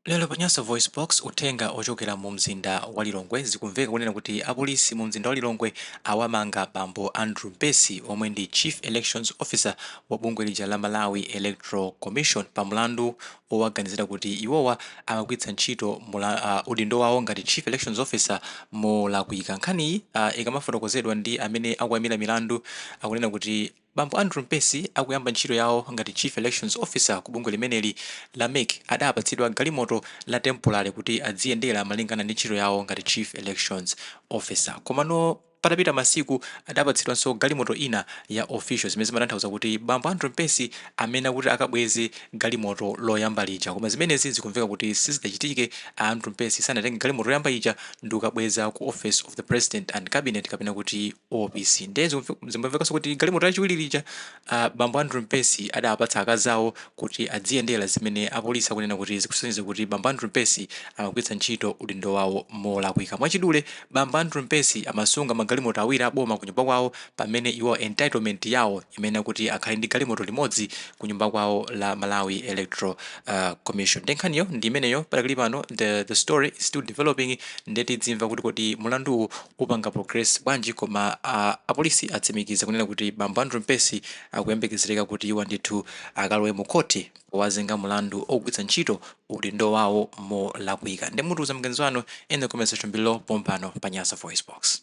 Lero pa Nyasa VoiceBox, uthenga ochokera mu mzinda wa Lilongwe zikumveka kunena kuti apolisi mu mzinda wa Lilongwe awamanga bambo Andrew Mpesi omwe ndi Chief Elections Officer wa bungwe lija la Malawi Electoral Commission pa mlandu owaganizira kuti iwowa amagwiritsa ntchito mula, uh, udindo wawo ngati Chief Elections Officer molakwika. Nkhaniyi uh, ikamafotokozedwa ndi amene akuimira milandu akunena kuti Bambo Andrew Mpesi akuyamba ntchito yawo ngati Chief Elections Officer ku bungwe limeneli la MEC adapatsidwa galimoto la temporary kuti adziyendera malingana ndi ntchito yawo ngati Chief Elections Officer komano patapita masiku adapatsidwanso galimoto ina ya official zimene zimatanthauza kuti bambo Andrew Mpesi amayenera kuti akabweze galimoto loyamba lija koma zimenezi zikumveka kuti sizidachitike a Andrew Mpesi sanatenge galimoto loyamba lija ndikukabweza ku Office of the President and Cabinet kapena kuti OPC nde zimamvekaso kuti galimoto lachiwiri lija bambo Andrew Mpesi adapatsa akazi awo kuti adziyendera zimene apolisi akunena kuti zikusonyeza kuti bambo Andrew Mpesi amagwiritsa ntchito udindo wawo molakwika mwachidule bambo Andrew Mpesi amasunga magalimoto awiri a boma kunyumba kwawo pamene iwo entitlement yawo imayenera kuti akhale ndi galimoto limodzi kunyumba kwawo la Malawi Electoral uh, Commission nde nkhaniyo ndi imeneyo padakali pano the, the story is still developing nde tidzimva kuti kodi mulanduwu upanga progress bwanji koma aa apolisi atsimikiza kunena kuti bambo Andrew Mpesi akuyembekezereka kuti iwo ndithu akalowe mu khoti powazenga mulandu ogwitsa ntchito udindo wawo molakwika nde mutiuza maganizo anu in the comment section below pompano pa Nyasa VoiceBox.